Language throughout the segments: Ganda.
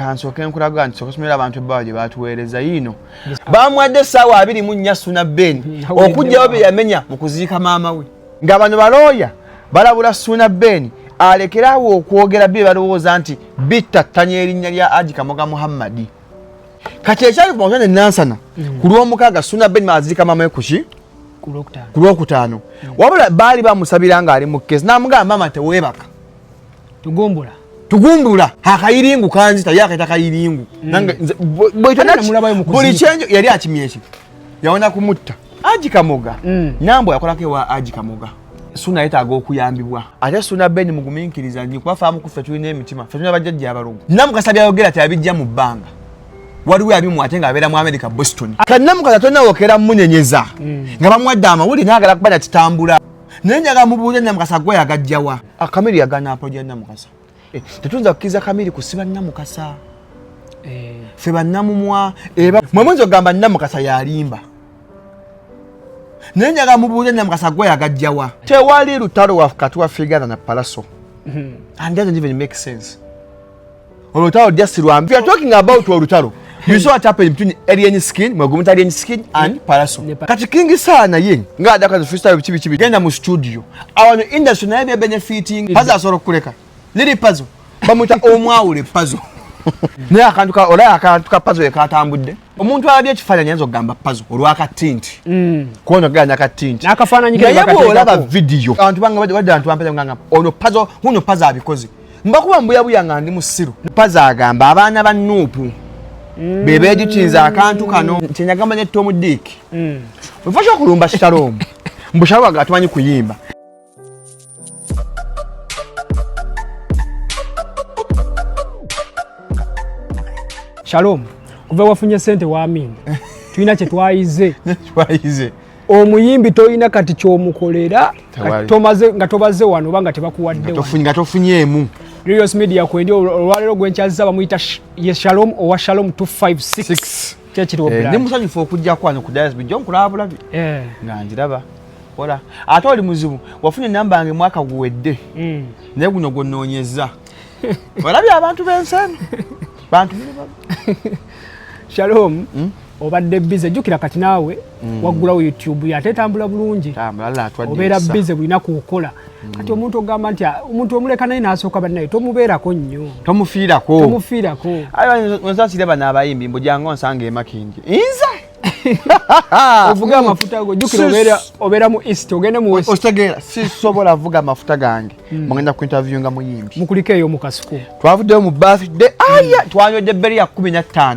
kansooke nkulaga nti sokasomera abantu ebbawa gye baatuweereza yiino baamuwadde essaawa abiri mu nnya suna ben hmm, okugyawo bye yamenya mu kuziika maama we nga bano balooya balabula suna ben alekerawo okwogera bye balowooza nti bittattanya erinnya lya aji kamoga muhammadi kati ekyali kumakya ne nansana hmm. ku lw'omukaaga suna ben maaziika maama we kuki ku lwokutaano hmm. wabula baali bamusabira ng'ali mu keesi n'amugamba maama teweebaka tugumbula tugumbula akayiringu kanzita ye akaita kayiringu buli kyenjo yali akimya ekyo yawona kumutta aji kamoga mm. nambo yakolako ewa aji kamoga suna yetaaga okuyambibwa ate suna ben muguminkiriza nyo kuba faamu kuffe tulina emitima fe tulina bajjajja abalogo namukasa byayogera ti abijja mu bbanga waliwo abimu ate nga abeera mu america boston kanamukasa tonawokera munenyeza mm. nga bamuwadde amawuli naagala kuba nakitambula naye njaga mubuuza namukasa gwe yagajjawa akamiri ah, yagana apoja namukasa eh, tetuyinza kukkiriza kamiri kusiba namukasa eh. fe bannamumwa eh, mwe muyinza okugamba namukasa yalimba naye njaga mubuuza namukasa gwe yagajjawa tewali lutalo wakati wa figana na palaso hmm. and doesn't even make sense olutalo just silwambi we are talking about olutalo you saw what happened between alien skin mwegumita alien skin and paraso kati kingi sana ye nga adaka freestyle bichi bichi genda mu studio awano industry naye bya benefiting pazo asoro kuleka lili pazo bamuta omwawule pazo naye akantu ka olaya akantu ka pazo yekatambudde omuntu alabye ekifaananyi ayinza okugamba pazo olwaka tinti mm. kuona ganya ka tinti naye bwolaba vidiyo abantu bange badde bantu bampeza ngamba ono pazo huno pazo abikoze mbakuba mbuyabuya nga ndi musiru paza agamba abaana ba nuupu mm. bebejukinza akantu kano kyenyagamba ne tom dik mm. wefasha okulumba shalom mbu shalom aga tumanyi kuyimba shalom kuva wafunye sente wamin tulina kyetwayize omuyimbi tolina kati kyomukolera nga tobaze wano oba nga tebakuwaddenga tofunyeemu Rios Media kwendi olwaleero gwenkyazza bamuyita ye Shalom owa Shalom 256 kyekiri obulala eh, ndi musanyufu okujja kwano ku Dias Bijo nkulaba bulabi eh. nga njiraba ola ate oli muzibu wafunye namba yange mwaka guwedde mm. naye guno gwononyezza olabye abantu b'ensi eno bantu Shalom hmm? obadde bize jjukira kati naawe mm. waggulawo youtube ye ate etambula bulungi obeera bize bulina kukola mm. kati omuntu ogamba nti ah, omuntu omuleka naye nasooka bannaye tomubeerako nnyo tomufiirako tomufiirako onsasire bano abayimbi mbujanga onsanga emakindi inza ovuga amafuta go jukira obera obera mu east ogende mu west ostegera si sobola vuga amafuta gange hmm. mugenda ku interview nga muyimbi mukulike yo mukasuku twavude mu birthday aya hmm. twanyode beri ya 15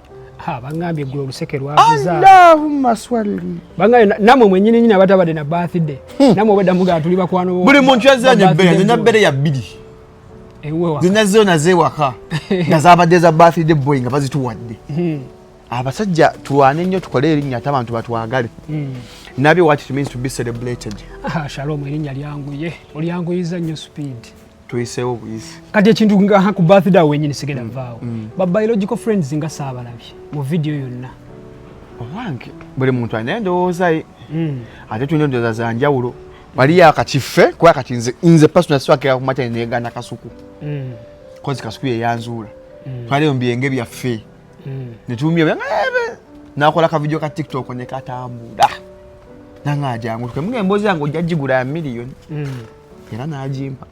ha bangambye gwe oluseke lwavuza Allahumma swalli bangambye namwe mwenyini nyina batabade na birthday hmm. namwe obeda muga tuli bakwano buli muntu yazanye bbeya nina bere ya bbiri zina zona zewaka nga zabadde za birthday boy nga bazituwadde hmm. abasajja tulwane nnyo tukole erinnya ate abantu batwagale hmm. nabyo what it means to be celebrated ah, shalom erinnya lyanguye olyanguyiza nnyo speed tuyiseewo buyisi kati ekintu nga ku birthday wenyini sigenda mm. vaawo mm. ba biological friends nga saabalabye mu vidiyo yonna owange buli muntu alina endowooza ye mm. ate tulina endowooza za njawulo waliyo akakife kuba kati nze nze pasona siwakira kumatani negana kasuku kozi kasuku yeyanzuula twaliyo mu byenge byaffe netumya eh, nakola kavidiyo ka tiktok nekatambula nange ajangu tukemugemboozi yange ojja gigula ya miliyoni era n'agimpa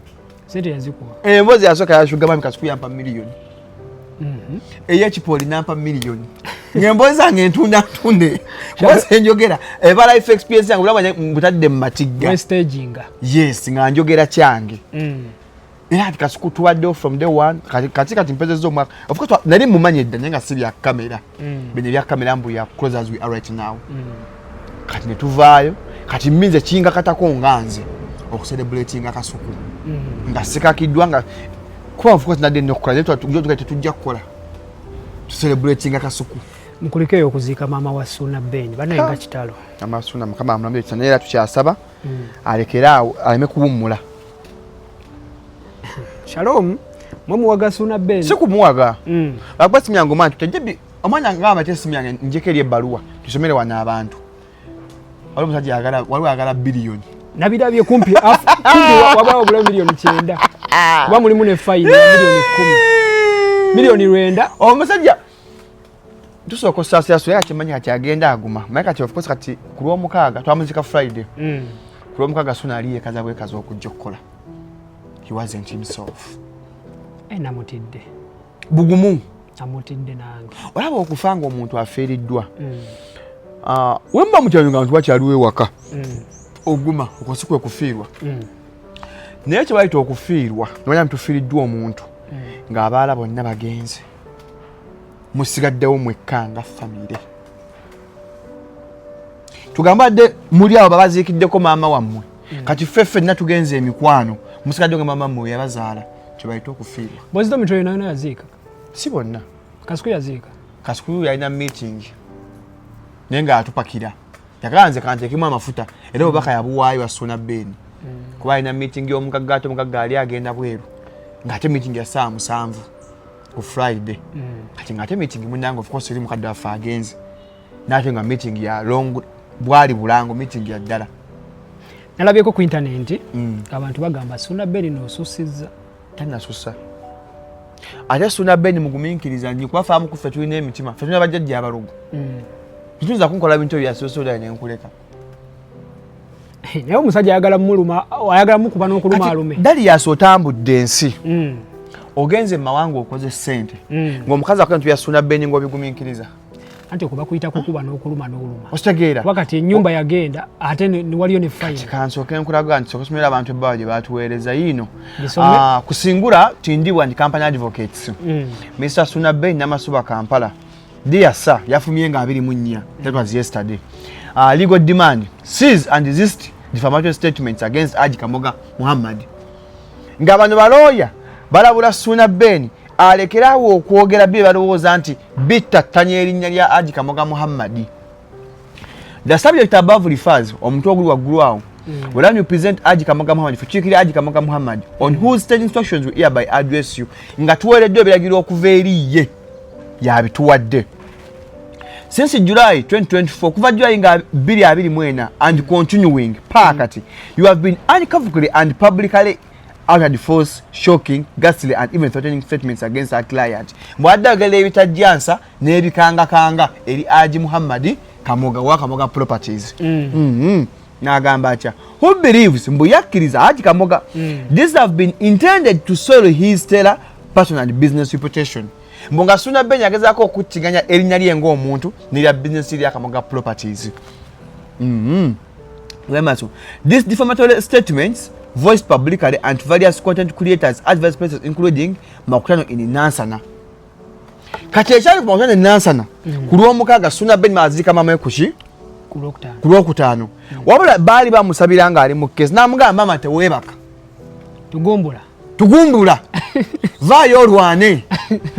sente yazikuwa emboozi eh, yasooka yashuga mami kasuku yampa miliyoni mhm. eyekipooli nampa miliyoni ng'emboozi zange ntunda ntunde kubasa enjogera ebala ife experience yange bulaba butadde mu matigga yes nga njogera kyange mm. era kati kasuku tubaddewo from day one kati kati mpezeza omwaka ofcourse nali mumanyi edda naye nga si bya kamera mm. bino ebya kamera mbu ya close as we are right now mm. kati ne tuvaayo kati minze kingakatako nga nze okuserebulatinga kasuku mm-hmm. nga sikakiddwa nga kuba nfuka tinadde nokukola naye tuga tetujja kukola tuserebulatinga kasuku mukulikeyo okuziika maama wa suuna ben banaye nga kitalo maama suuna mukama amulamu ekisa naye era tukyasaba mm. alekere awo aleme kuwummula shalom mwe muwaga suuna ben si kumuwaga mm. bakuba simyangu mantu tejje omwana ngamba ate esimu yange njeko eri ebbaluwa tusomere wano abantu waliwo omusajja yagala waliwo ayagala biliyoni nabirabye kumpi wabulawo obulawo miliyoni kyenda ah. kuba mulimu ne fayini ya miliyoni kumi miliyoni lwenda omusajja tusooka osaasirasula era kimanyi kati agenda aguma maye kati ofcourse kati ku lwomukaaga twamuzika friday mm. ku lwomukaaga suna ali yekaza bwekaza okujja okukola he wasn't himself enamutidde eh, bugumu amutidde nange olaba okufa nga omuntu afiiriddwa mm. ah, wemba mukyalo nga bantu bakyaliwo ewaka mm. oguma okosi kwe kufiirwa mm. naye kyebayita okufiirwa nomanya ntufiiriddwa omuntu ng'abaala bonna bagenze musigaddewo mwekka nga famire tugamba dde muli abo babaziikiddeko maama wammwe mm. kati ffe ffenna tugenza emikwano musikadde nga mama mwe yabazaala kyebayita okufiirwa bwezito mitwe yona yona yaziika si bonna kasuku yaziika kasuku yalina meeting naye nga atupakira yagala nze kanteekemu amafuta era obubaka yabuwaayo asuna beeni mm. kuba alina meeting y'omugagga ate omugagga ali agenda bweru ng'ate meeting ya saa musanvu ku friday mm. kati ng'ate meeting munange ofcourse eri mukadde waffe agenze nate nga meeting ya long bwali bulango meeting ya ddala nalabyeko ku intanenti mm. abantu bagamba suna beni nosusiza tanasusa ate suna beni muguminkiriza nyi kuba faamu kuffe tulina emitima fe tulina bajjajja abalugu mm. tituyinza kunkola bintu ebyo yasosola nenkuleka naye omusajja ayagala muluma ayagala mukuba nokuluma alume dali yasi otambudde ensi mm. ogenze mu mawanga okoze sente ngaomukazi akola ntu yasuna beni ngaobiguminkiriza mm. anti okuba kuyita kukuba n'okuluma n'oluma okitegeera wakati enyumba yagenda ate waliyo ne fayina kansoke nkulaga nti sokusomera abantu ebbaawa gye baatuweereza yiino ah, kusingura tindibwa nti company advocates mm. mr suna bay namasuba kampala dear sir yafumye nga abiri mu nnya that was yesterday uh, legal demand sees and resist defamatory statements against aji kamoga muhammad nga bano balooya balabula suna beni alekere awo okwogera bye balowooza nti bittattanya erinnya lya aji kamoga muhammadi the subject above refers omuntu oguli waggulu awo Mm. Well, you present Aji Kamoga Muhammad, particularly Aji Kamoga Muhammad, on mm. whose state instructions we hereby address you, nga tuweereddwa ebiragiro okuva eri ye yabituwadde since july 2024 kuva july nga 224 and mm. continuing paa mm. kati you have been uncovely and publicly uttered false shocking ghastly and even threatening statements against our client mbwadde agala ebitajjansa n'ebikangakanga eri aji muhammadi kamoga wa kamoga properties mm. mm -hmm. n'agamba atya who believes mbu yakkiriza aji kamoga mm. this have been intended to soil his stellar personal and business reputation mbu nga suna beny agezaako okukkiŋanya erinnya lye ng'omuntu nerya bizinesi lya kamoga properties mm -hmm. Remaso. These defamatory statements voiced publicly and various content creators at various places including makutano in Nansana. Kati ekyali ku makutano in Nansana mm. ku lw'omukaaga Suna Ben Mazika mama kuki ku lwokutaano mm. wabula baali bamusabira ng'ali mu kkeesi n'amugamba maama teweebaka tugumbula tugumbula vaayo olwane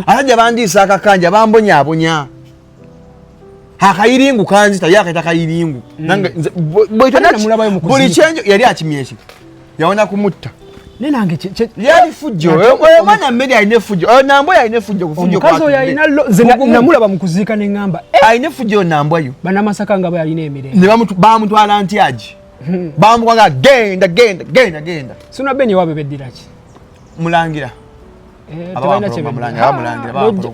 asajja bandiisa akakanja bambonyabonya akayiringu kanzita ye akaita kayiringu buli kyenjo yali akimya ekyo yawona kumutta yalifujjoomwana mmere alina efujjo oyo nambwa yo alina efujjo kufujomukazi oyo alinanamulaba mu kuziika ne ŋŋamba eh! alina efujjo yo nambwa yo banamasaka nga bayalina emirembe ne bamutwala ntyagi hmm. bamukwaga genda genda genda genda sinabenewabebeddiraki mulangira Eh,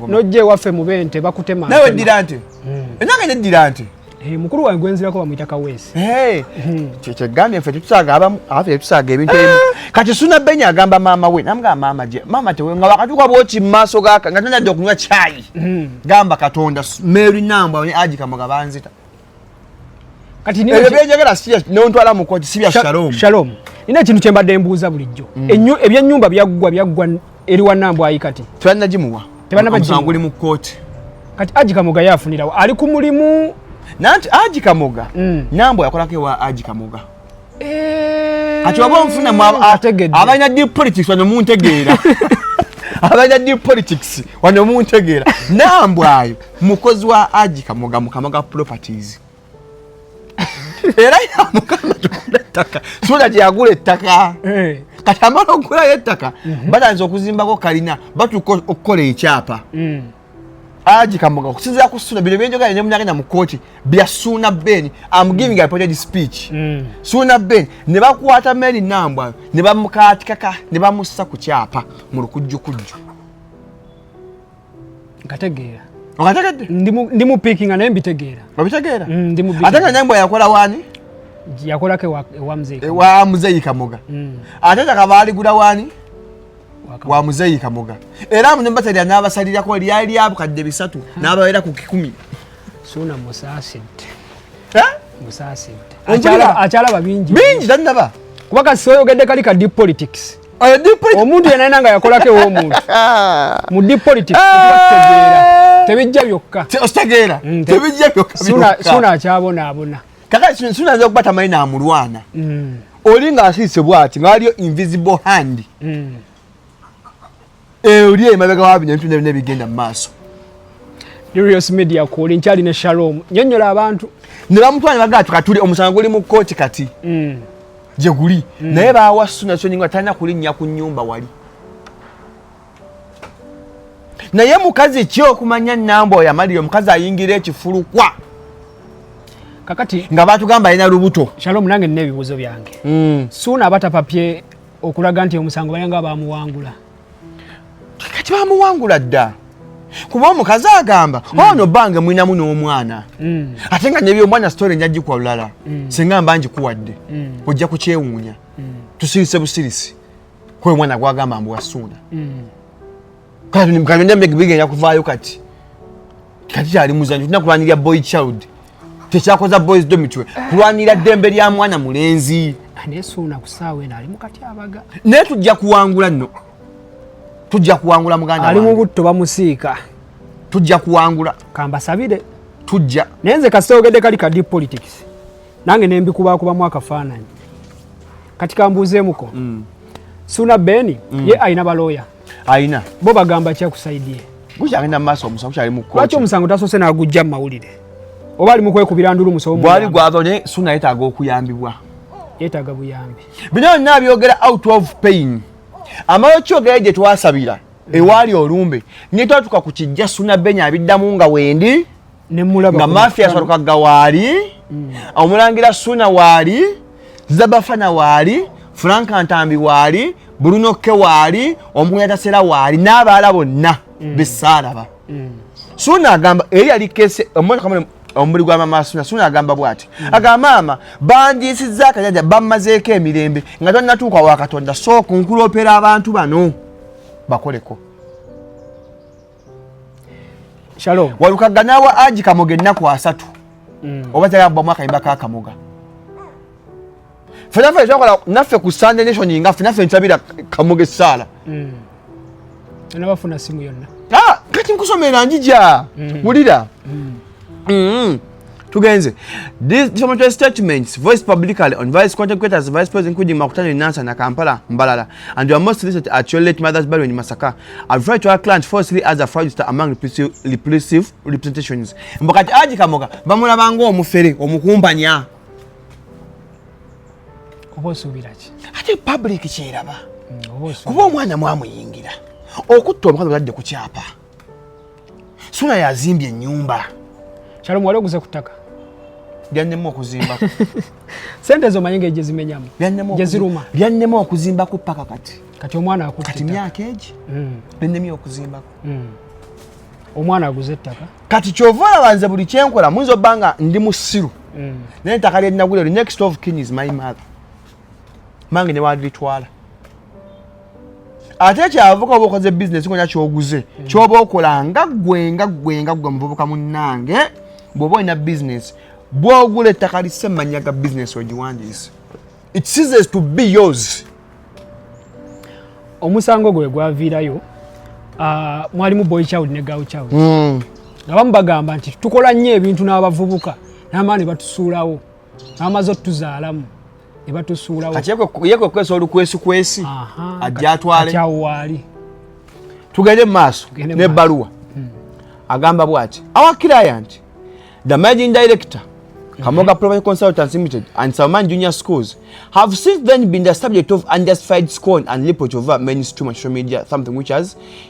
nojja ewaffe mubente bakutema nawe ddira nti hmm. enange neddira nti eh, mukulu wange gwenzirako bamuyita kaweesi eh. hmm. kyekigambye ffe tetusaaga abamu afe tetusaaga ebintu ebimu kati suna benya agamba maama we namugamba maama gye maama tewe nga wakatuuka bwoki mu maaso gaka nga tanadde okunywa kyayi hmm. gamba katonda mary nambwa ne aji kamoga banzita kati niyo ebyo byejagala si nontwala mu koti si bya shalom shalom ina kintu kyembadde mbuuza bulijjo mm. enyu ebya nyumba byaggwa byaggwa eri wa nambo ayi kati twanna jimuwa tebana ba jimuwa nguli mu koti kati aji kamoga yafunira ali ku mulimu nanti aji kamoga mm. nambo yakolako wa aji kamoga eh. kati oba onfunamu abalina deep politics wano muntegeera abalina deep politics wano muntegeera nambwayo mukozi wa aji kamoga mukama ga properties era yamukama tugula ettaka sula gyeyagula ettaka eh. kati amala okugulayo ettaka mhm. batandiza okuzimbako kalina batuuka okukola ekyapa mm. Aji kamoga kusinzira ku suna bino byenjoga ne munyagenda mu koti bya suna ben am giving a project speech mm. suna ben ne bakwata meni namba ne bamukati kaka ne bamussa ku kyapa mu lukujju kujju nkategeera okategedde ndi mu picking na mbitegeera obitegeera mm, ndi mu picking ataka nyambo yakola wani yakola ke wa, wa mzee wa mzee kamoga mm. ataka kabali guda wani wa muzeeyi kamoga era amuno batalya n'abasalirako lyali abukadde bisatu n'ababeera ku kikumi suuna musaasidde musaasidde akyalaba bingi bingi tannaba kuba kasi oyogedde kali ka deep politics omuntu yenayina nga yakolako ewomuntu mu deep politics tebijja byokka tebijja byokka suuna akyabonaabona kaka sinzinaza okuba tamanyi namulwana mm. oli nga asiise bwati nga waliyo invisible hand mm. oli emabega wabinya bintu nebina ebigenda mu maaso Darius Media kuli nkyali ne Shalom nyonyola abantu ne bamutwala bagaa tukatuli omusango guli mu kkooti kati mm. gye guli naye baawa suna sonyi nga talina kulinnya ku nnyumba wali naye mukazi ki okumanya namba oyo amalire omukazi ayingira ekifulukwa kakati nga batugamba alina lubuto shalom nange nina ebibuuzo byange mm. suuna aba tapapye okulaga nti omusango bayanga bamuwangula kati bamuwangula dda kuba omukazi agamba mm. ono oh, bange mwinamu n'omwana mm. ate nga nebyomwana story nja gikwa lulala mm. singa mba ngikuwadde mm. ojja kukyewuunya mm. tusirise busirisi kwe mwana gwagamba mbu wasuuna mm. kati byonna bigenda kuvaayo kati kati kyali muzanyo tulina kulwanirira boy child tekyakoza boys do mitwe kulwanirira ddembe lya mwana mulenzi anesuuna ku saawa eno ali mukati abaga naye tujja kuwangula nno tujja kuwangula muganda ali mu butto bamusiika tujja kuwangula kambasabire tujja naye nze kasita ogedde kali ka deep politics nange nembikubakubamu akafaananyi kati kambuuzeemuko mm. suna beni mm. ye alina balooya alina bo bagamba kyakusaidie gukyagenda mumaaso omusango gukyali mukko lwaki omusango tasoose nagujja mu mawulire oba ali mukwekubira ndulu musobo bwali gwazo naye suna yetaaga okuyambibwa yetaaga buyambi bino byonna byogera out of pain amala okyogera gye twasabira mm. ewaali olumbe netwatuka ku kijja suna beni abiddamu nga wendi nga mafia asatuka ga waali mm. omulangira suna waali zabafana waali frank ntambi waali bulunokke waali omukunya tasera waali n'abaala bonna mm. besaalaba mm. suna agamba eri yali kese omwana omubiri gwa mama suna suna agamba bwati mm. aga maama bandiisiza akajaja bamazeeko emirembe nga tonnatuuka wa katonda sooka nkulopera abantu bano bakoleko Shalom. Walukaga nawe aji kamoga ennaku asatu. Mm. Oba tayaba bwa mwaka imba kaka kamoga. Fena fena chokola nafe ku Sunday nation inga fena fena chabira kamoga sala. Mm. Ana bafuna simu yonna. Ah, kati nkusomera njija. Mm. Mulira. Mm. Mm-hmm. tugenze from the statements voiced publicly on vice content creators vice president including makutano in Nansa na Kampala Mbalala and your most recent at your late mother's burial in Masaka I've tried to our client falsely as a fraudster among repulsive representations mbakati aji kamoga bamulaba ngo omufere omukumbanya oba osuubira ki ate public kyeraba mm, kuba omwana mwamuyingira okutta omukazi otadde ku kyapa sula yazimbye enyumba kyalo mwali oguze kutaka byannema okuzimba sente zo mayinga eje zimenyamu je ziruma byannema okuzimba ku paka kati kati omwana akufita kati myaka eji mm. byennemye okuzimba mm. omwana aguze ettaka kati kyovola banze buli kyenkola muyinza obanga ndi musiru mm. naye ettaka lyelinagulero next of kin is my mother mange newandilitwala ate kyavuka oba okoze bizinesi ngonya kyoguze hmm. kyoba okola nga gwe nga gwe nga gwe muvubuka munnange bwoba olina bizinesi bwogula ettaka lise manya ga bizinesi ogiwandiise it seases to be yours omusango gwe gwaviirayo ah, mwalimu boy child ne girl child hmm. nga bamu bagamba nti tukola nnyo ebintu n'abavubuka n'amaani batusuulawo amaze otuzaalamu ne batusuulawo ye kwe kwesa olukwesu kwesi ajja atwale kyawo waali tugende mu maaso n'ebbaluwa hmm. agamba bwati our client the managing director Kamoga hmm. Property Consultants Limited and Salman Junior Schools have since then been the subject of unjustified scorn and reproach over mainstream and social media, something which has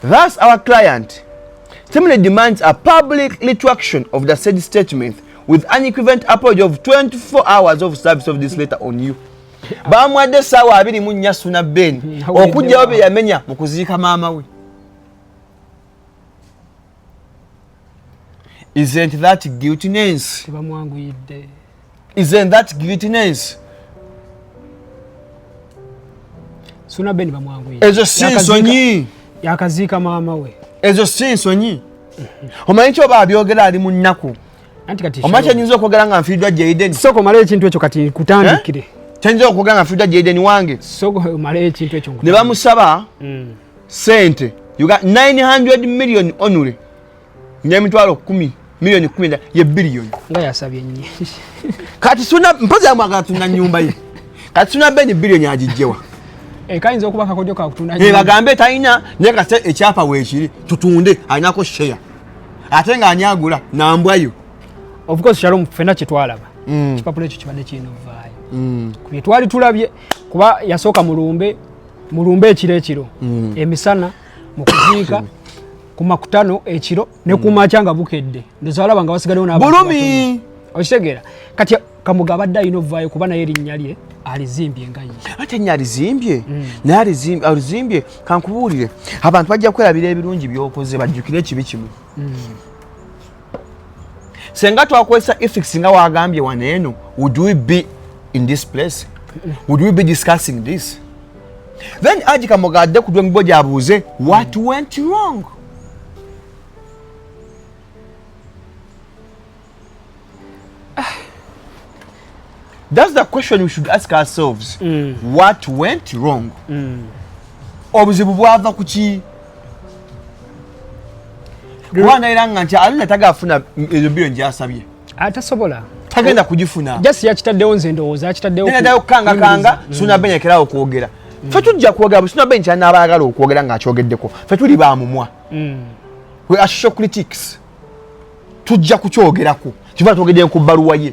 Thus our client Stimuli demands a public retraction of the said statement with an equivalent apology of 24 hours of service of this letter on you. Bamwadde sawa abiri mu nnya suna Ben hmm, okujjawo bye yamenya mu kuziika maama we. isn't that guiltiness tebamwanguyidde isn't that guiltiness suna ben bamwanguyidde ezo si nsonyi yakaziika maama we ezo si nsonyi omanyi kyoba abyogera ali mu nnaku omanyi kyenyinza okwogera nga nfiiddwa jaiden soko mala ekintu ekyo kati nkutandikire eh? kyenyinza okwogera nga nfiiddwa jaiden wange soko mala ekintu ekyo ne bamusaba mm. sente you got 900 million only nyemitwalo 10 million 10 ye billion nga yasabye nyi kati suna mpoza mwaga tuna nyumba ye kati suna beni billion ajijewa e kainza okuba kakojo ka kutuna nyumba e bagambe taina ne ka se echapa we chiri tutunde aina ko share atenga anyagula na mbwayo of course shalom fena chitwalaba mm. chipapule chichibane chino vai mm. kuyetwali tulabye kuba yasoka mulumbe mulumbe ekiro ekiro mm. emisana mu kuziika ku makutano ekiro ne ku mm. makya nga bukedde ndoza alaba nga basigalewo nabulumi okitegeera kati kamuga abadde alina ovaayo kuba naye erinnya lye alizimbye nga ye ate nya alizimbye mm. naye alizimbye alizimbye kankubuulire abantu bajja kwerabira ebirungi byokoze bajjukire ekibi kimu mm. senga twakozesa ethics nga wagambye wano eno would we be in this place would we be discussing this then aji kamoga adde ku dweng boja abuuze what went wrong That's the question we should ask ourselves. Mm. What went wrong? Mm. Obuzibu bwava kuki? Kubanga era nga nti alina tagafuna ezo biyo nje asabye. Atasobola. Tagenda kujifuna. Just yakitaddewo nze ndowooza akitaddewo. Nena dayo kanga kanga mm. suna benya kera okwogera. Mm. Fe tujja kwogera suna benya kyana abaagala okwogera nga akyogeddeko. Fe tuli ba mumwa. Mm. We are show critics. Tujja kukyogerako. Kiva twogedde ku baluwa ye.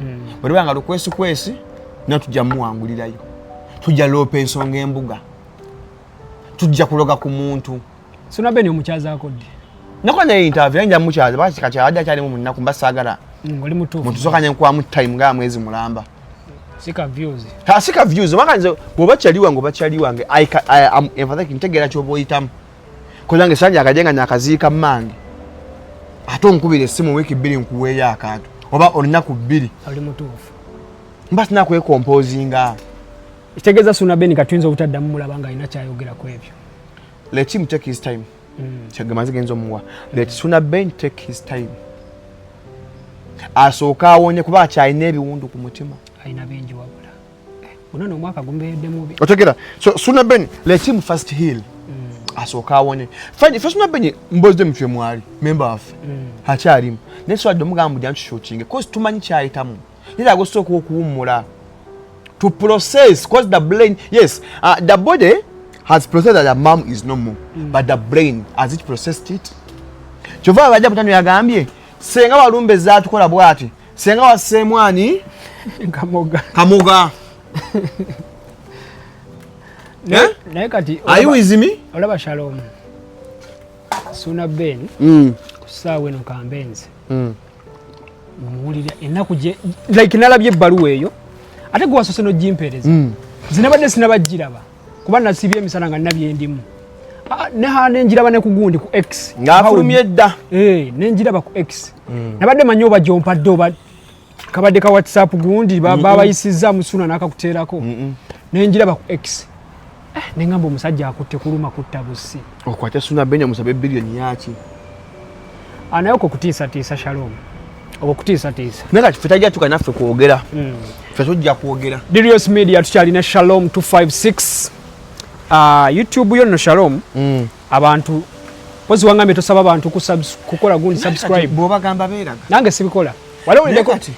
mm. bwe luba nga lukwesikwesi no tujja muwangulirayo tujja loopa ensonga embuga tujja kuloga ku muntu sona beni omukyaza akodde nakola naye intave naye nja mukyaza bakikakyabadde akyalimu munaku mba saagala mm, oli mutuufu mutusooka ne nkuwamu time nga mwezi mulamba sika views ha sika views maka nze bwoba kyali wange oba kyali wange i am empathetic ntegeera kyoba oyitamu kolange sanja akajenga nyakaziika mmange ate onkubira essimu wiiki bbiri nkuweeyo akantu oba olunaku bbiri oli mutuufu mba sina kwekompozinga ekitegeeza suna beni katuyinza obutaddamu mulaba nga alina kyayogera ku ebyo let him take his time mm. kyagamba zigenza omuwa let suna ben take his time asooke awonye kuba akyalina ebiwundu ku mutima alina bingi wabula Unaona omwaka gumbeyedde mubi. Otegera. So Suna Ben let him first heal. Mm. Asooka awone. Fine, first Suna Ben mbozde mfye mwali member of. Mm. Hakyalimu. Naye so adde mugambo dya ntushokinge cause tumanyi kyayitamu. Nira agosooka okuwummula. To process cause the brain yes, uh, the body has processed that the mom is no more mm. but the brain has it processed it. Kyova abajja butano yagambye senga walumbe zatukola bwati senga waseemu ani kamoga kamoga eh? naye kati ayiwizimi olaba shalom suna ben mm. kusaawa eno kambenze mm. muwulira enaku gye like nalabye ebbaluwa eyo ate gwe wasose nojimpereza mm. zinabadde sinabajjiraba kuba nasibye emisana nga nina byendimu ah, neha nenjiraba ne kugundi ku x ngafulumye dda eh, nenjiraba ku x mm. nabadde manyi oba gyompadde oba kabadde ka whatsapp gundi babayisiza musuna nakakuteerako nenjiraba ku x eh, nengamba omusajja akutte kuluma kutta busi okwata suna benya musabe billion yaki anaye okwo kutiisatiisa shalom okwo kutiisatiisa naye kati fe tajja tuka naffe kwogera hmm. fe tujja kwogera dirios media tukyalina shalom 256 ah, youtube yo nno shalom hmm. abantu pozi wangambye tosaba abantu kukola gundi subscribe bwobagamba beeraga nange sibikola waliwo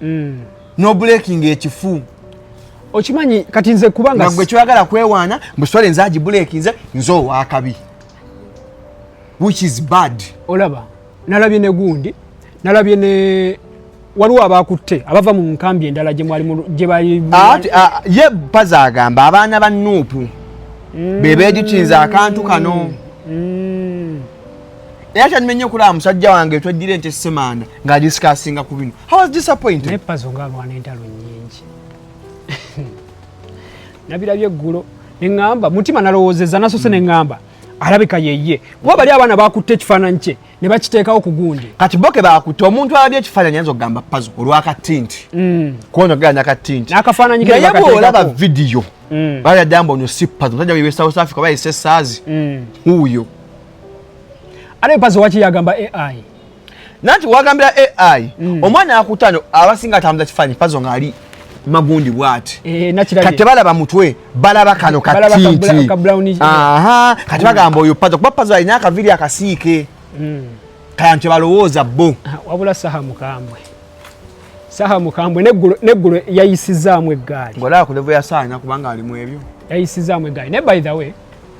mm. no breaking ekifu okimanyi kati nze kubanga gwe kyoyagala kwewaana mbusole nze agibulekinze nze owakabi which is bad olaba nalabye ne gundi nalabye ne waliwo abakutte abava mu nkambi endala gyebali ah, ah, ye paza agamba abaana ba nuupu mm. bebejukinza akantu kano mm. era kyanime nnyo okulaba musajja wange twejjira ente semanda nga disikasinga ku bino howasapointepazo nga alwana entalo nyingi nabirabye eggulo neŋŋamba mutima nalowoozeza nasose hmm. neŋŋamba alabika yeye kuba bali abaana bakutte ekifaananyi kye ne bakiteekawo ku gundi kati boke bakutte omuntu alabye ekifaananyi ayinza okugamba pazo olwakatinti hmm. kuona ogera nakatinti naye bwolaba vidiyo hmm. bali addamba ono si pazo musajja wewe south africa bayise saazi uyo ate pazo waki yagamba ai nanti wagambira ai mm. omwana akutano abasinga atambuza kifanyi pazo ngaali magundi bwati eh, kati tebalaba mutwe balaba kano katiti kati bagamba oyo pazo kuba pazo alina akaviri akasiike mm. kaya nti balowooza bo ah, wabula saha mukambwe saha mukambwe neggulo yayisizaamu eggaali ngolaba kulevu yasaana kubanga alimu ebyo yayisizaamu eggaali ne by the way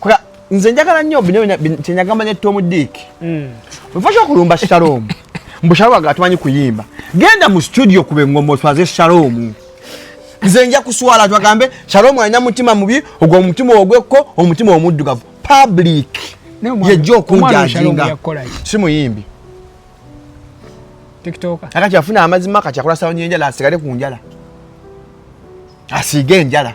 Kwa nze njagala nnyo bino kyenyagamanya etta omudiiki hmm. wefaki okulumba shalom mbu shalom aga tumanyi kuyimba genda mu studio kube ngoma oswaze shalom nze nja kuswala twagambe shalom alina mutima mubi ogwo omutima ogwekko omutima omuddugavu public yejja okunjajinga si muyimbi akati afuna amazima kati akola sawonyenjala asigale ku njala asiige enjala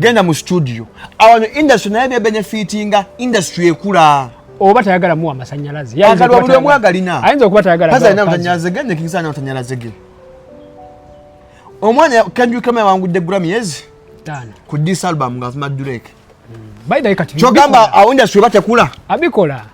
genda mu studio awano industry naye byebenefitinga industry ekula oba tayagala muwa masanyalaze agalwa buli omu agalina ayinza okuba tayagala kazi alina masanyalaze ge nekisa alina masanyalaze ge omwana kendrick lamar yawangudde grammy yezi ku dis album nga avuma durek kyogamba awo industry oba tekula abikola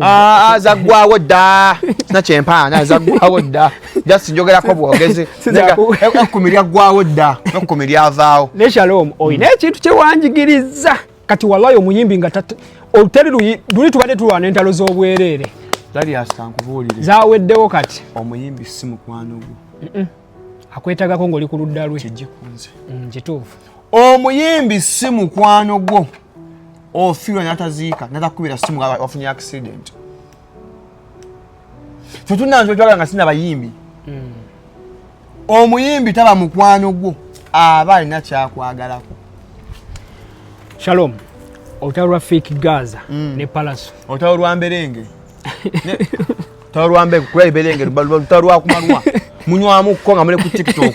Ah, ah, zaggwawo dda sina kyempaana zaggwawo dda just njogerako bwogezi ekkumi lyaggwawo dda ekkumi lyavaawo ne shalom olina ekintu kyewanjigiriza kati walayo omuyimbi nga oluteri luli tubadde tulwana entalo z'obwereere zaweddewo kati omuyimbi si mukwano gwo akwetagako ng'oli ku ludda lwe mm, kituufu omuyimbi si mukwano gwo ofiirwa oh, nataziika natakubira simu wafunye accident fe tunanzwetwagala nga sina bayimbi hmm. omuyimbi taba mukwano gwo aba alina kyakwagalako shalom olutalo lwa fake gaza hmm. ne palaso olutalo lwa mberenge olutalo lwa mberenge kuba iberenge lutalo lwakumalwa munywamuko nga muli ku tiktok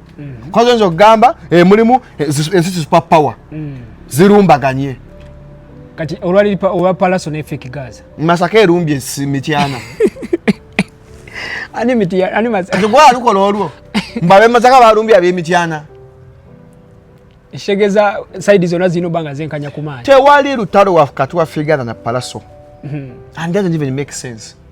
mm. kozi oyinza okugamba eh, mulimu eh, ensi super power mm. zirumbaganye kati olwali owa palaso ne fake gaza masaka erumbye si mityana ani mityana ani masaka kati gwa alukola olwo mbabe masaka barumbye abe mityana shegeza side zona zino banga zenkanya kumanya tewali lutalo wa kati wa figure na palaso mm -hmm. and doesn't even make sense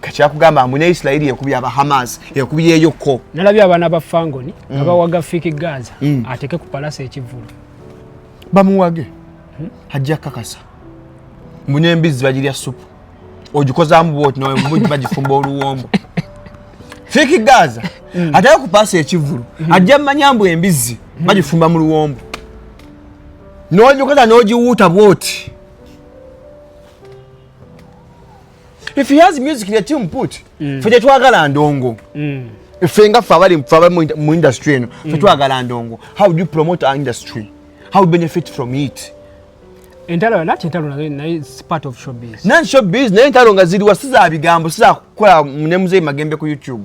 kakyakugamba mbu ne isirairi ekubye aba hamas ekubyeyo ko nalabye abaana ba fangoni nga mm. bawaga fiki gaza mm. ateke ku palasa ekivulu bamuwage hmm? ajja kakasa mbu n'embizzi bagirya supu ogikozaamu bwoti nawe bagifumba oluwombo fiki gaza mm. ateke ku palasa ekivulu hmm. ajja mumanya mbu embizzi hmm. bagifumba mu luwombo n'ogikoza n'ogiwuuta bwoti if he has music let him put mm. fe tetwagala ndongo mm. fe nga fe abali fe abali mu industry eno fe mm. twagala ndongo how do you promote our industry how do you benefit from it entalo nati entalo nazo naye si part of showbiz nan showbiz naye entalo nga ziriwa si za bigambo si za kukola ne muzeeyi magembe ku youtube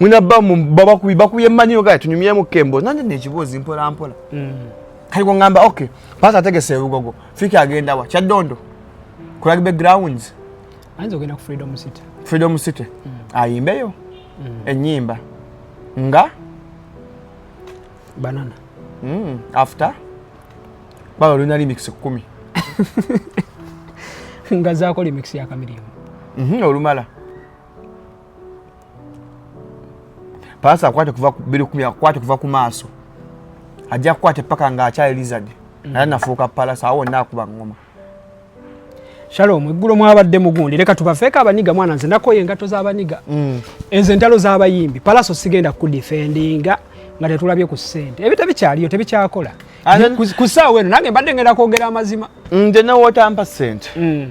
mwina bamu babakubi bakuye manyiro gaye tunyumyemu kembo nanye nekibuuzi mpola mpola mm. kali kungamba ok pasa ategese ebugogo fiki agenda wa kyaddondo ku rugby grounds ayinza ogenda ku freedom city freedom city mm. ayimbeyo mm. enyimba nga banana mm. after baba olina remix kumi nga zaako remix ya kamirimu mm -hmm, olumala paasa akwate kuva birikumi akwate kuva ku maaso ajja kukwate paka nga akyali lizard mm. naye nafuuka palasa awo wonna akuba ngoma shalom eggulo mwabadde mugundi leka tubafeeko abaniga mwana nze nakoye engatto z'abaniga mm. ezo entalo z'abayimbi palaso sigenda kudifendinga nga tetulabye ku ssente ebyo tebikyaliyo tebikyakola ku saawa eno nange mbadde ngenda kwogera amazima nze newotampa sente mm.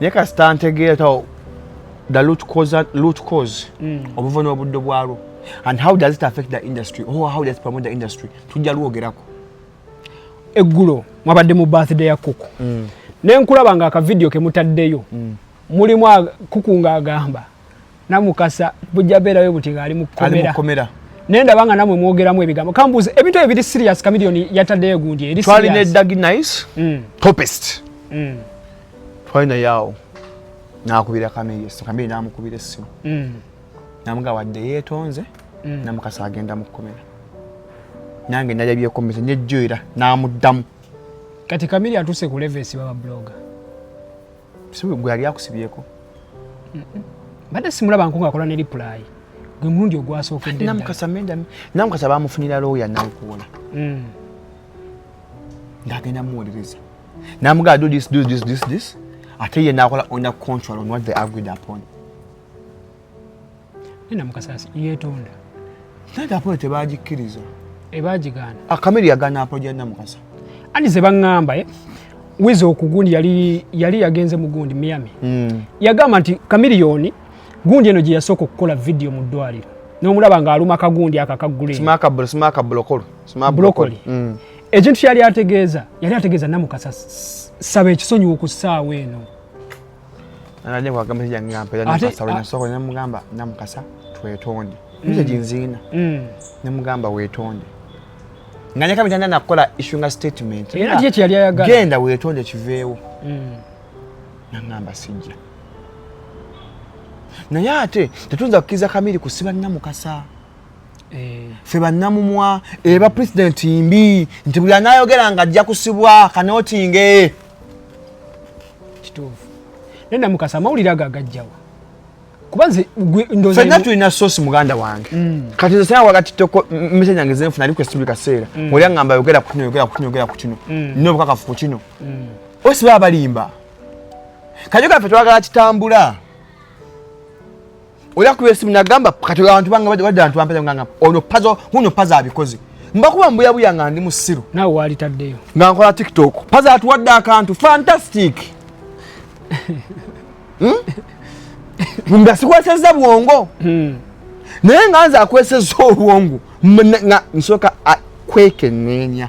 naye kasita ntegeera tawo the root cause, root cause mm. obuvuna obuddo bwalwo and how does it affect the industry or how does it promote the industry tujja lwogerako eggulo mwabadde mu birthday ya kuku mm. nenkulaba nga akavidiyo kemutaddeyo mm. mulimu kuku nga agamba namukasa bujja beerayo buti ng'ali mu kkomera naye ndaba nga namwe mwogeramu ebigambo kambuuza ebintu ebyo biri serious kamiliyoni yataddeyo egundi eri twali ne dagi nice mm. topest mm. twali naye awo nakubira kameyesi kamiri namukubira essimu mm. namuga wadde yeetonze namukasa agenda mu kkomera nange nalabyekomesa nejjoera namuddamu kati kamiri atuuse ku levesi baba bloga si gwe yali akusibyeko mbadde simulaba nku ngaakola ne lipulayi gwe mulundi ogwasookeddenamukasa bamufunira looya nankuwola mm. ng'agenda muwolereza namugaa do this do this this this ate ye nakola on a contrary on what they agreed upon nina mukasasi yetonda nate apolo tebagikkiriza ebagigaana akamiri yagaana apolo gyalina mukasa ani ze baŋŋamba eh? wiza okugundi yali yali yagenze mu gundi miami mm. yagamba nti kamiliyoni gundi eno gye yasooka okukola vidiyo mu ddwaliro n'omulaba ng'aluma kagundi ako akaguleekimaakabulokolibulokoli mm. ekintu kyali ategeeza yali ategeeza namukasa saba ekisonyiwa ku ssaawa eno namugamba namukasa twetonde nze ginziina nemugamba wetonde nga nyaka mitanda nakukola issuinga statement genda wetonde kiveewo mm. nangamba sijja naye ate tetuyinza kukkiriza kamiri kusiba namukasa eh. fe bannamumwa eba president mbi nti buli anayogera nga ajja kusibwa kanotinge kituufu naye namukasa amawulire ago agajjawa kuba nze fenna tulina sosi muganda wange mm. kati nze sena wakati toko mese nyange zenfuna ali kwesibuli kaseera mm. oli angamba yogera ku kino yogera ku kino yogera ku kino mm. nina obukakafu ku kino osi baba balimba kajo kaffe twagala kitambula oya ku esimu nagamba kati abantu bange badde bantu bampeza ngamba ono pazo muno pazo abikoze mbakuba mbuyabuya nga ndi musiru nawe walitaddeyo nga nkola tiktok pazo atuwadde akantu fantastic hmm? nga sikweseza bwongo hmm. naye nga nze akweseza obwongo nga nsooka kwekeneenya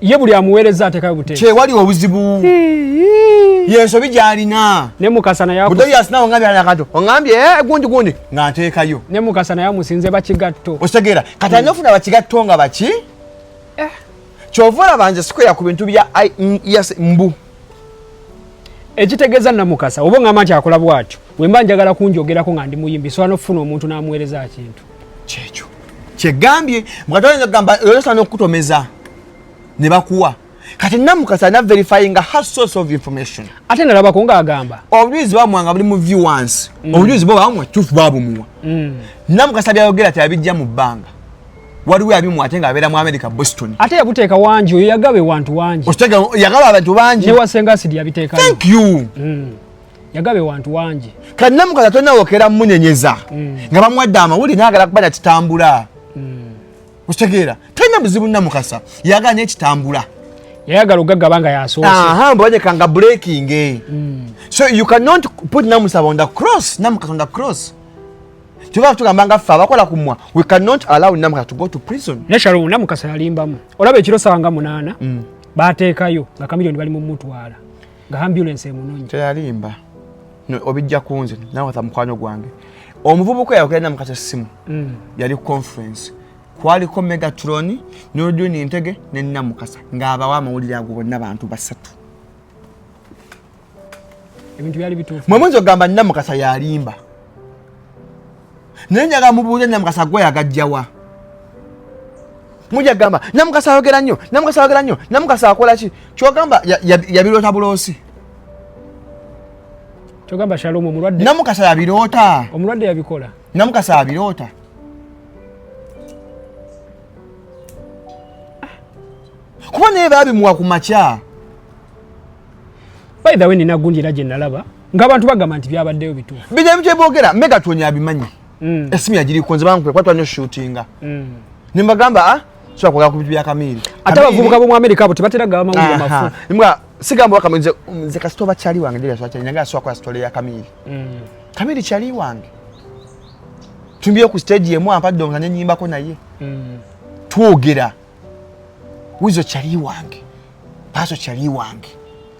ye buli amuweereza atekayo bute kyewali obuzibu yensobi gyalina ne mukasa naye buto yasinawo ngambye anakato ongambye eh, gundi gundi nga nteekayo ne mukasa naye amusinze bakigatto okitegera kati alina ofuna bakigatto nga baki eh. kyova olaba nze sikwera ku bintu bya yes mbu ekitegeeza namukasa oba ongamba nti akola bwatyo wemba njagala kunjogerako nga ndi muyimbi sobola nokufuna omuntu namuweereza kintu kyekyo kyegambye mukatoyinza kugamba oyosana okukutomeza ne bakuwa kati namukasa na verifying her source of information ate nalabako nga agamba obujulizi bamwanga buli mu viewance mm. obujulizi bwo bamwa tufu babumuwa mm. namukasa byayogera teyabijja mu bbanga waliwo abimu ate nga abeera mu america boston ate yabuteeka wangi oyo yagaba ewantu wangi yagaba abantu bangi newasenga asidi yabiteeka thank you mm. yagabe wantu wangi kannamukaza tonawokera munenyeza mm. nga bamuwadde amawuli nagala kuba nakitambula mm. okitegeera talina buzibu namukasa yagala nekitambula yayagala ogagaba nga yasoosembanyeka nga breaking eh. mm. so you cannot put namusaba on the cross namukasa on the cross kyova tugamba nga ffe abakola ku mwa we cannot allow namukasa to go to prison neshalo namukasa yalimbamu olaba ekiro sanga munaana bateekayo nga kamilioni bali mumutwala nga ambulance emunonyi teyalimba obijja kunze nawatha mukwano gwange omuvubuka yayogera na mukasa simu mm. yali conference kwaliko megatron noduni ntege nenina mukasa ngaabawo amawulire ago bonna bantu basatu mwemunzi ogamba nina mukasa yalimba naye njaga mubuuze namukasa gwe yagajjawa muja gamba namukasa ayogera nnyo namukasa ayogera nnyo namukasa akola ki kyogamba yabiroota buloosi kyogamba shalomu omulwadde namukasa yabiroota omulwadde yabikola namukasa abiroota kuba naye babimuwa ku makya by the way nina gundi era gye nalaba ng'abantu bagamba nti byabaddeyo bituufu bijja bitya boogera mega tuonya abimanyi mm. esimu yagiriko nze bankupe kwatwa nyo shootinga mm. ne mbagamba ah, sobola kwogera ku bintu bya kamiiri ate abavubuka b'omu amerika abo tebatera gaba mawulire mafu mbwa sigamba wakama nze nze kasita oba kyali wange ndirya swakyali nange asobola kola sitole ya kamiiri mm. kamiiri kyali wange tumbiyo ku stage yemu ampadde omuna nenyimbako naye twogera wizo kyali wange paaso kyali wange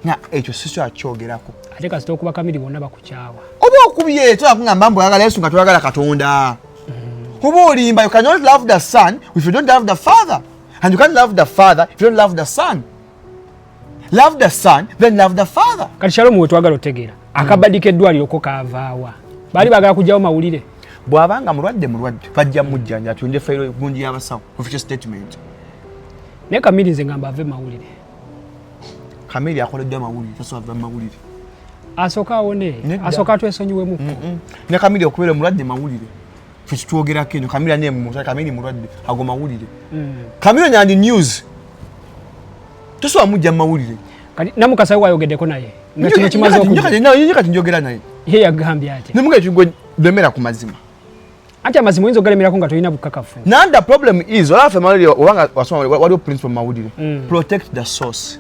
na ekyo siso akyogerako ate kasita okuba kamiri bonna bakukyawa oba okubye twakugamba mbu oyagala yesu nga toyagala katonda mm. oba olimba you cannot love the son if you don't love the father and you can't love the father if you don't love the son love the son then love the father kati shalomu wetwagala otegeera mm. akabadi keddwaliro ko kavaawa baali bagala kugyawo mawulire bwabanga mulwadde mulwadde bajja mujjanja atunde fayiro gungi y'abasawo official statement Naye Kamili nze ngamba ave mawulire. Kamili akoleddwa mawulire, tasobola kuva mu mawulire. Asooka awone, asooka twesonyiwemuko. Mm, mm. Ne Kamili okubeera omulwadde mawulire. Ffe kitwogerako eno, Kamili ane mu Kamili mulwadde, ago mawulire. Mm. Kamili nyandi news. Tosobola mujja mu mawulire. Kati Namukasa wayogeddeko naye. Nga kino kimaze okujja. Kati njogera naye. Ye yagambye ati. Ne mugati gwe demera ku mazima. Ati amazima oyinza okugalemerako nga tolina bukakafu. Now the problem is olaba ffe mawulire obanga wasoma waliwo principle mu mawulire mm. protect the source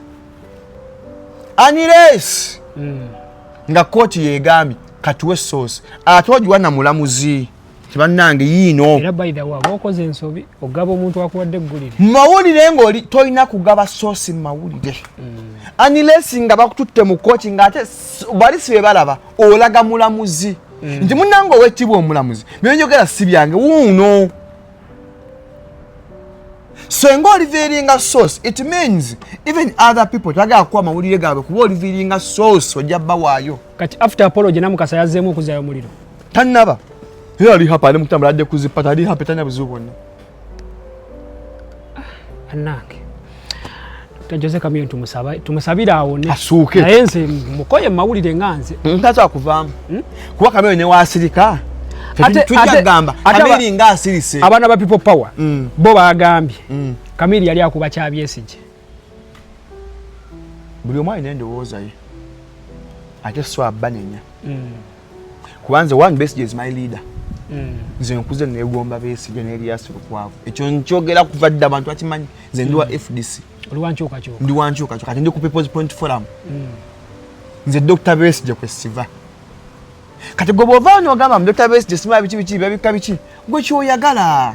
unless mm. nga kooti yegambye katuwe source ate ogiwa na mulamuzi tibannange yiino era by the way okoze ensobi ogaba omuntu akuwadde eggulire mu mawulire ng'oli tolina kugaba source mu mawulire mm. unless nga bakututte mu kooti ng'ate bali si be balaba olaga mulamuzi mm. nti munange owekitibwa omulamuzi byonjogera si byange wuuno senga oliviringa source it means even other people tagala kuwa mawulire gaabwe kuba oliviringa source ojja bawaayo kati after apology namukasa yazzeemu okuzayo omuliro tannaba era ali hapa ali mutambula adde kuzipata ali hapa tanya buzibu bwonna bannange jose kamiyo tumusabire awo asuuke naye nze mukoye mumawulire nga nze ntaza kuvaamu hmm? kuba kamiyo newasirika tujagamba kamiri nga asirise abaana ba people power hmm. bo bagambye hmm. kamiri yali akuba kyabyesije buli omu alina endowooza ye ate so abanenya mm. kubanze one best is my leader mm. nze nkuze negomba besige neriasi lukwavu ekyo nkyogera kuva dda abantu bakimanyi nze ndi wa mm. fdc ndi wankyukakyuka kati ndi ku peoples point forum nze dr besige kwesiva kati gwe bwova nogamba mu dr besige simaa biki biki babika biki gwe kyoyagala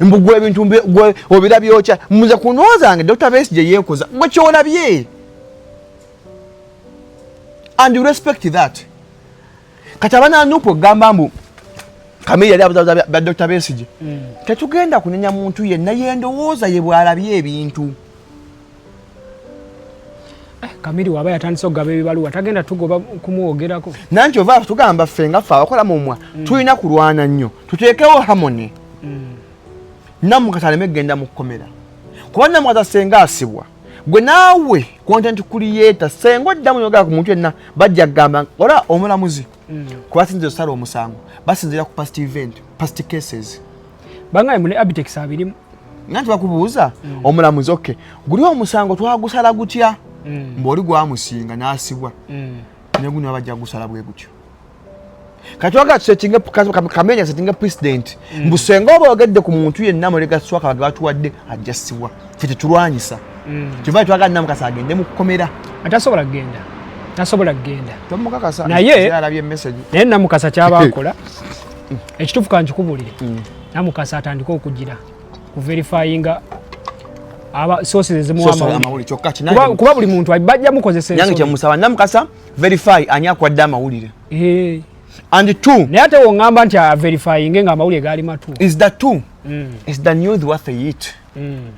mbugwe ebintu gwe obira byokya muze kunwazange dr base gye yeekoza gwe kyolabye and you respect that kati abana nupu okugamba mbu kamere yali abuzabuza ba dr base gye mm. tetugenda kunenya muntu yenna yendowooza ye bwalabye ebintu Eh, kamiri waba yatandise okugaba ebibaluwa tagenda tugoba kumwogerako nanti ova tugamba ffe nga ffe abakola mumwa mm. tulina kulwana nnyo tuteekewo hamone mm. namukati aleme kugenda mu kkomera kuba namukati asenga asibwa gwe naawe kontenti kuliyeta senga oddamu yogera ku muntu yenna bajja kugamba ola omulamuzi mm. kuba sinza osala omusango basinzira ku past event past cases bangaye mune abitex abirimu nanti bakubuuza mm. omulamuzi oke guli omusango twagusala gutya mm. mbu oli gwamusinga nasibwa mm. neguno abajja gusala bwe gutyo katwaga tusetinge kamenya setinge president mm. mbu senga oba ogedde ku muntu yenna mulega swaka bage batuwadde ajja sibwa fe tetulwanyisa mm. kyova twaga nna mukasa agende mu kukomera atasobola kugenda tasobola kugenda tomukakasa naye naye namukasa kyabakola ekituufu kankikubulire mm. namukasa atandika okugira ku verifyinga aba sources ezimuwa amawulire kyokka kinange kuba buli muntu bajja mukozesa ensobi nange kyemusaba namukasa verify ani akwadde amawulire eh and two naye ate wongamba nti a verifying nga amawulire gaali matu is the two mm. is the news worth the heat mm.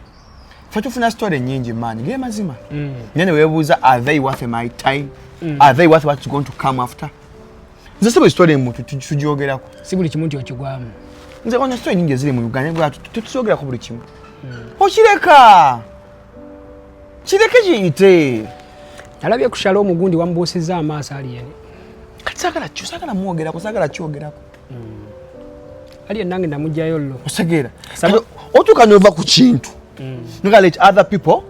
fe tufuna story nyingi maanyi ge mazima mm. nene webuuza are they worth my time mm. are they worth what's going to come after nze sebo ekitwala emuntu tukyogerako si buli kimu nti okigwamu nze ono sito enyingi eziri mu uganda bwatu tukyogerako buli kimu hmm. okireka kireke kiyite alabye kushala omugundi wamubuusizza amaaso aliyeni kati sagala kyo sagala mwogerako sagala kyogerako hmm. aliye nange namugjayo llo osegeera otuuka nova ku kintu hmm. nga let other people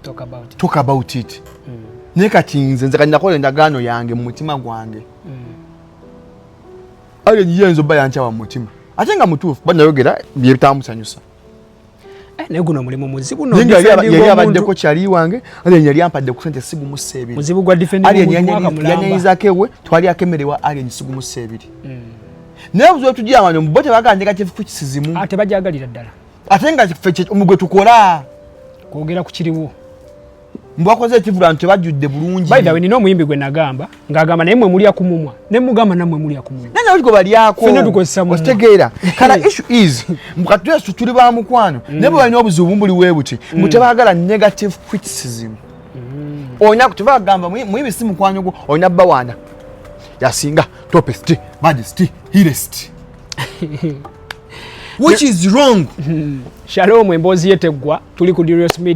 talk about it, talk about it. Mm. naye kati nze nze kaninakola endagaano yange mu mutima gwange mm. ayo ye nzo baya nchawa mutima ate nga mutuufu bana yogera byetamusanyusa eh, naye guno mulimu muzibu no nyo yali abadde ko chali wange ali yali ampadde ku sente sigu mu sebi muzibu gwa defend ali yali yali yiza kewe twali akemerewa ali ni sigu mu sebi mm. naye buzo tujia wanyo mbote baganje ka chifu kisizimu ate ah, bajagalira dala ate nga omugwe tukola kwogera ku kiriwo mbakoze ekivula nti tebajjudde bulungi by the way nina omuyimbi gwe nagamba ng'agamba naye mwe mulya ku mumwa ne mugamba nammwe mulya ku mumwa nana oliko balyako fena tukozesa mumwa okitegeera kala issue is mukati yesu tuli ba mukwano mm. naye bwe balina obuzibu buli we buti mbu mm. tebaagala negative criticism mm. olina kutiva agamba muyimbi si mukwano gwo olina bawaana yasinga topest majest hirest which is wrong shalom emboozi ye teggwa tuli ku Dirius media